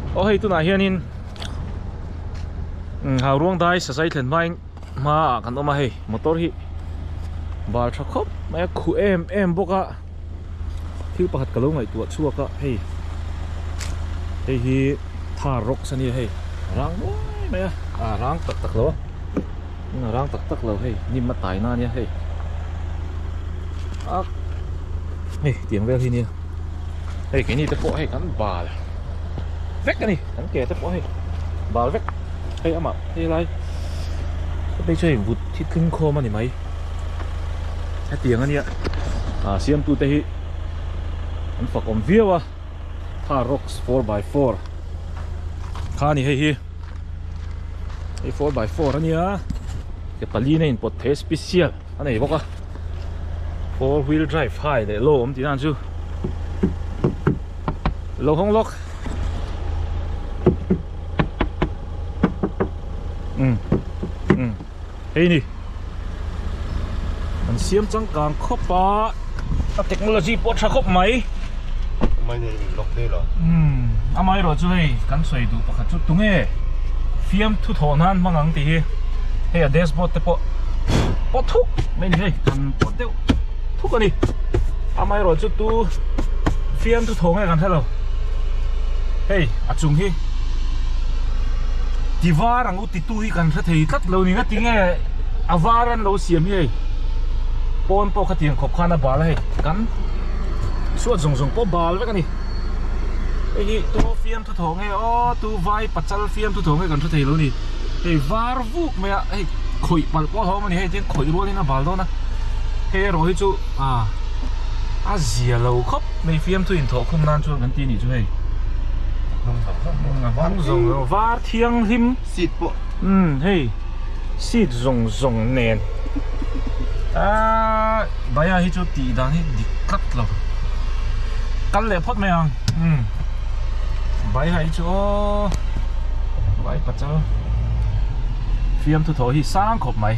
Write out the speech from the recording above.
Aw hei tunah hianin hau ruangdai sasai thlen hmain hmaah kan awm a hei motor hi bal tha khawp mai a khuh em em bawk a thil pakhat ka lo ngaihtuah chhuak a hei hei hi thar rocks a nia hei rang nuai mai a ah rang tak tak lo a. Inga rang tak tak lo hei hnim a taina ania hei a hei tiang vel hi nia hei keini te pawh hei kan bal vek ani kan ke te pawh hei bal vek hei ama hei lai hei chu hei vut hi tling khawm ani mai a tiang ania a siam tu te hi an fakom viau a tha rocks four by four kha ni hei hi hei four by four a nia ke paliin a inpawt theih a special a nei bawk a four wheel drive hai leh low awm tihnaah chu lo hawng lawk umm umm Hei ni, kan siam changkang khawp a, a technology pawh a tha khawp mai. Amai neiin min lock hle lo. Umm, amai erawh chu hei kan sawi duh pakhat chu tunge fiam thu thawh nan hmang ang tih hi. Hei a dashboard te pawh pawh thuk mai ni hei, kan pawt deuh thuk a ni. Amai erawh chu tu fiam thu thaw nge kan hre lo. Hei a chung hi ti var ang u. Titu hi kan hre thei tlat lo ni na tinge a var an lo siam hi hei pawn pawh kha tiang khawp khan a bal a hei kan chhuat zawng zawng pawh bal vek a ni hei hi tu fiam thu thawh nge aw tu vai pachal fiam thu thawh nge kan hre thei lo ni hei var vuk mai a hei khawih palh pawh a hawng a ni hei tiang khawih rual in a bal dawn a hei erawh hi chu a a zia lo khawp mai fiam thu inthawh khawm nan chuan kan ti a nih chu hei a hmang zawng lo var-- Thianghlim seat pawh umm hei seat zawng zawng nen aaa baiah hi chu tih dan hi dik tlat lo kal leh phawt mai ang umm baiah hi chu aw vai pachal fiamthu thaw hi sang khawp mai.